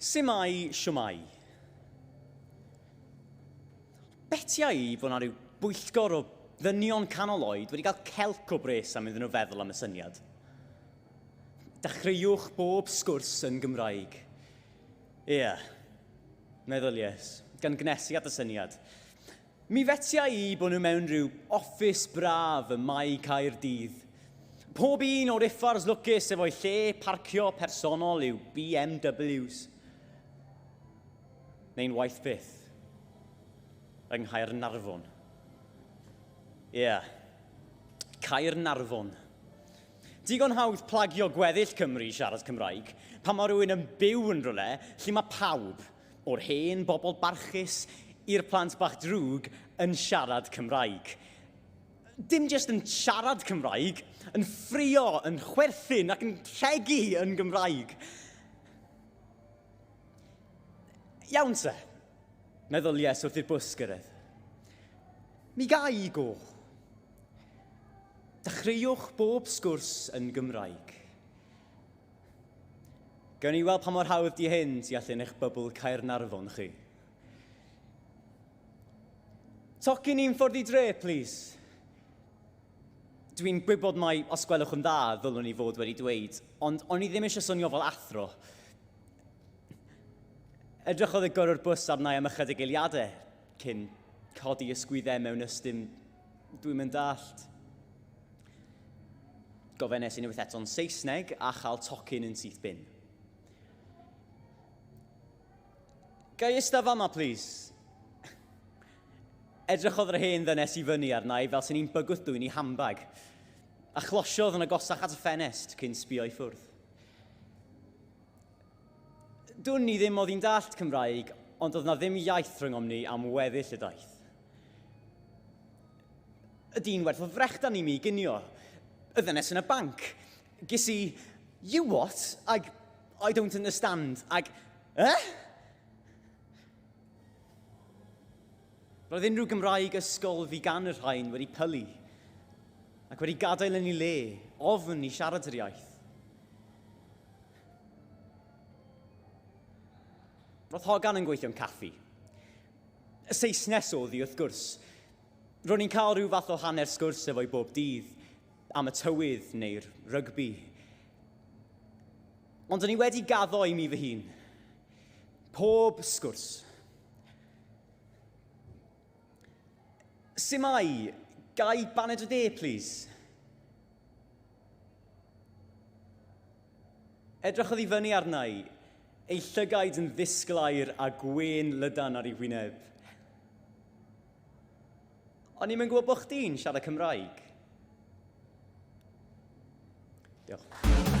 Simai, siwmai. Betia i bod yna rhyw bwyllgor o ddynion canol oed wedi cael celc o bres am iddyn nhw feddwl am y syniad. Dechreuwch bob sgwrs yn Gymraeg. Ie, yeah. meddylies, gan gnesu at y syniad. Mi fetiau i bod nhw mewn rhyw office braf ym Mae Caerdydd. Pob un o'r uffars lwcus efo'i lle parcio personol yw BMWs. Neu'n waeth byth. Yng Nghaernarfon. Ie. Yeah. Caernarfon. Digon hawdd plagio gweddill Cymru i siarad Cymraeg pan mae rhywun yn byw yn rhywle lle mae pawb O'r hen bobl barchus i'r plant bach drwg yn siarad Cymraeg. Dim jyst yn siarad Cymraeg, yn ffrio, yn chwerthin ac yn rhegi yn Gymraeg. Iawn te, meddwl Ies wrth i'r bws gyrraedd. Mi gai i go. Dechreuwch bob sgwrs yn Gymraeg. Gawn ni weld pa mor hawdd di hyn tu allan eich bybl Caernarfon chi. Tocyn i'n ffordd i dre, plis. Dwi'n gwybod mai, os gwelwch yn dda, ddylwn i fod wedi dweud, ond o'n i ddim eisiau swnio fel athro. Edrychodd y gyrrwr bws arna i am ychydig eiliadau cyn codi ysgwyddau mewn ystym Dwi'm yn dallt. Gofennes i unwaith eto'n Saesneg a chael tocyn yn syth bin. Gai ista fama, plis? Edrychodd yr hen ddynes i fyny arna i fel sy'n i'n bygwth dwy'n i hambag, a chlosiodd yn agosach at y ffenest cyn sbio i ffwrdd. Dwn i ddim oedd hi'n dallt Cymraeg, ond oedd na ddim iaith rhyngom ni am weddill y daith. Y dyn werth o frechdan i mi gynio, y ddynes yn y banc. Ges i, you what? Ag, I don't understand. Ag, eh? Roedd unrhyw Gymraeg ysgol fi gan y rhain wedi pylu ac wedi gadael yn ei le, ofn i siarad yr iaith. Roedd Hogan yn gweithio'n caffi. Y Saesnes oedd hi, wrth gwrs. Ro'n i'n cael rhyw fath o hanner sgwrs efo'i bob dydd, am y tywydd neu'r rygbi. Ond o'n i wedi gaddo i mi fy hun. Pob sgwrs. Sut mae? Gai baned o de, please? Edrychodd i fyny arna i, ei llygaid yn ddisglair a gwên lydan ar ei wyneb. O'n i'm yn gwybod bod chdi'n siarad Cymraeg. Diolch.